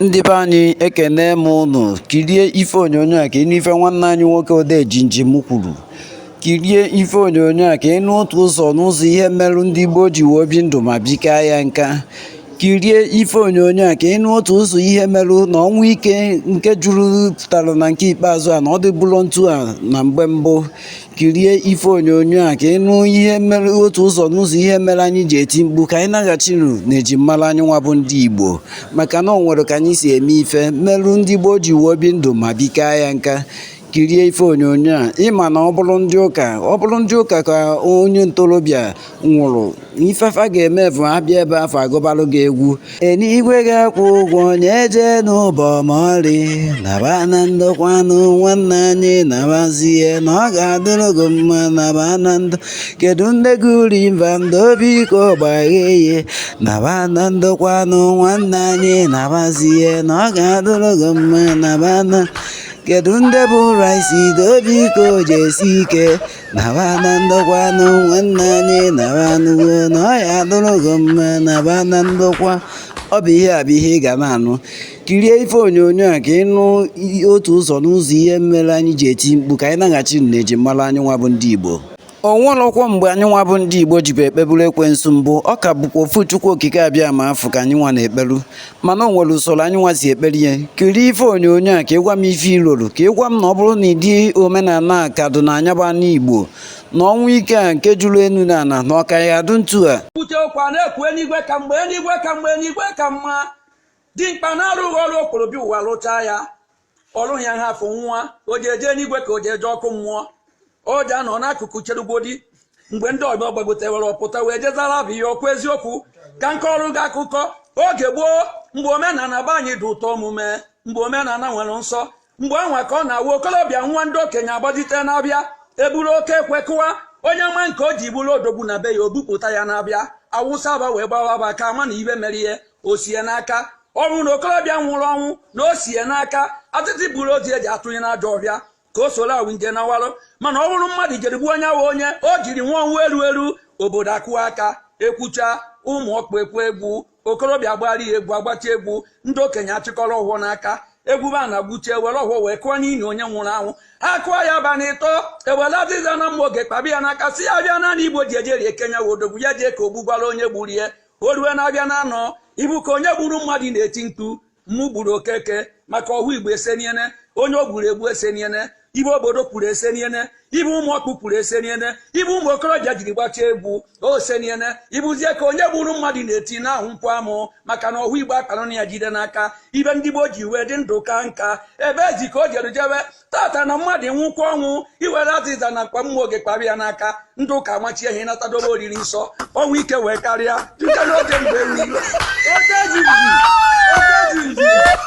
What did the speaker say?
Ndị be anyị ekene m ụnụ kirie ife onyonyo a ka ị nụ ife nwanne anyị nwoke odee jinjim kwuru kirie ife onyonyo a ka ị nụ otu ụzọ n'ụzọ ihe merụ ndị gboo ji wee bi ndụ ma bikaa ya nka kirie ife onyonyo a ka ị nụ otu ụzọ ihe merụ na ọnwụ ike nke juru pụtara na nke ikpeazụ a na ọ dịburọ ntu a na mgbe mbụ kirie ife onyonyo a ka ị nụ ihe mere otu ụzọ n'ụzọ ihe mere anyị ji eti mkpu ka anyị naghachinu na ejimmara anyị nwa bụ ndị Igbo maka na o nwere ka anyị si eme ife merụ ndị gboo ji wee bi ndụ ma bikaa ya nka kirie ife onyonyo a ị ma na ọ bụrụ ndị ụka ọ bụrụ ndị ụka ka onye ntorobịa nwụrụ ife fa ga-eme bụ ha bịa ebe afụ agụbalụ gị egwu eluigwe ga-akwụ ụgwọ onye eje n'ụbọ ma ọrị naba na ndokwanụ nwanne anyị nabazie na ọ ga-adịrị gị mma naba na ndụ kedu ndị gị uri mba doo biko gbaghee ya naba na ndokwanụ nwanne anyị nabazie na ọ ga-adịrị gị mma naba na kedu ndị bu rice doo biko jisi ike naba na ndokwanụ nwanne anyị nabanugo na ọ ya-adụrụ gị mma naba na ndokwa ọ bụ ihe a bụ ihe ị ga na-anụ kirie ife onyonyo a ka ị nụ otu ụzọ n'ụzọ ihe mere anyị ji eti mkpu ka anyị naghachi na ejimmara anyị nwa bụ ndị Igbo o nwerọkwa mgbe anyị nwa bụ ndị Igbo jibu ekpeburu ekwensu mbụ ọ ka bụkwa ofu Chukwu okike Abịama afụ ka anyị nwa na-ekperu mana o nwere usoro anyị nwa si ekpere ya kirie ife onyonyo a ka ị gwa m ife i loro ka ị gwa m na ọ bụrụ na ụdị omenana a ka dị na ana a bụ ana Igbo na ọnwụ ike a nke juru enu na ana na ọ ka ya-adụ ntu a kwute okwu a na-ekwu eluigwe ka mma eluigwe ka mma eluigwe ka mma dimkpa na-arụghị ọrụ o kporo bịa ụwa lụchaa ya ọrụ ya ha afọ nwa o ji eje n'igwe ka o ji eje ọkụ mmụọ o ji anọ n'akụkụ cherugodi mgbe ndị ọbịa gbagotewere ọ pụta wee jezara bụ ihe ọkwa eziokwu ka m kọọrọ gị akụkọ oge gboo mgbe omenala be anyị dị ụtọ omume mgbe omenala nwere nsọ mgbe ahụ ka ọ na-awụ okolobịa nwụọ ndị okenye agbajite n'afịa eburu oke ekwe kụwa onye ma nke o ji bụrụ odogwu na be ya o bupụta ya n'afịa awụsa afa wee gbawa afa ka a mara ife mere ya o si ya n'aka ọ wụ na okorobịa nwụrụ ọnwụ na o si ya n'aka atịtị buru ozu je atụnye n'ajọ ọhịa ka o soro awụ nje nawarụ mana ọ bụrụ mmadụ jere gbuo onye ahụ onye o jiri nwụọ ọnwụ eru eru obodo akụwa aka ekwucha ụmụ ọkpụ ekwu egwu okorobịa gbara ya egwu agbacha egwu ndị okenye achịkọrọ ọfọ n'aka e gwuba ana gwuchie were ọfọ wee kụọ n'ili onye nwụrụ anwụ ha kụọ ya abalị ịtọ e were azịza na mma ọge kpabi ya n'aka sị ya bịa naanị igbo ji ejeri ekenya wụ odogwu ya jee ka o gbugwara onye gburu ya o rue na-abịa na anọ ibu ka onye gburu mmadụ na-eti mkpu mụ gburu okeke maka ọhụ igbo eseniene onye o gburu egbu eseniene ibe obodo kwuru eseniene ibe ụmụ ọkpụ kwuru eseniene ibe ụmụ okorobịa jiri gbachaa egwu oseniene ịbụzie ka onye gburu mmadụ na-eti na ahụ nkwụ amụ maka na ọhụ igbo akpanụ na ya jide n'aka ibe ndị gboo ji wee dị ndụ kaa nka ebe ezi ka o jere jewe tata na mmadụ nwụkwa ọnwụ i were azịza na mkpa mma oge kpara ya n'aka ndị ụka amachie ha natadobe oriri nsọ ọnwụ ike wee karịa nke n'oge mgbe eri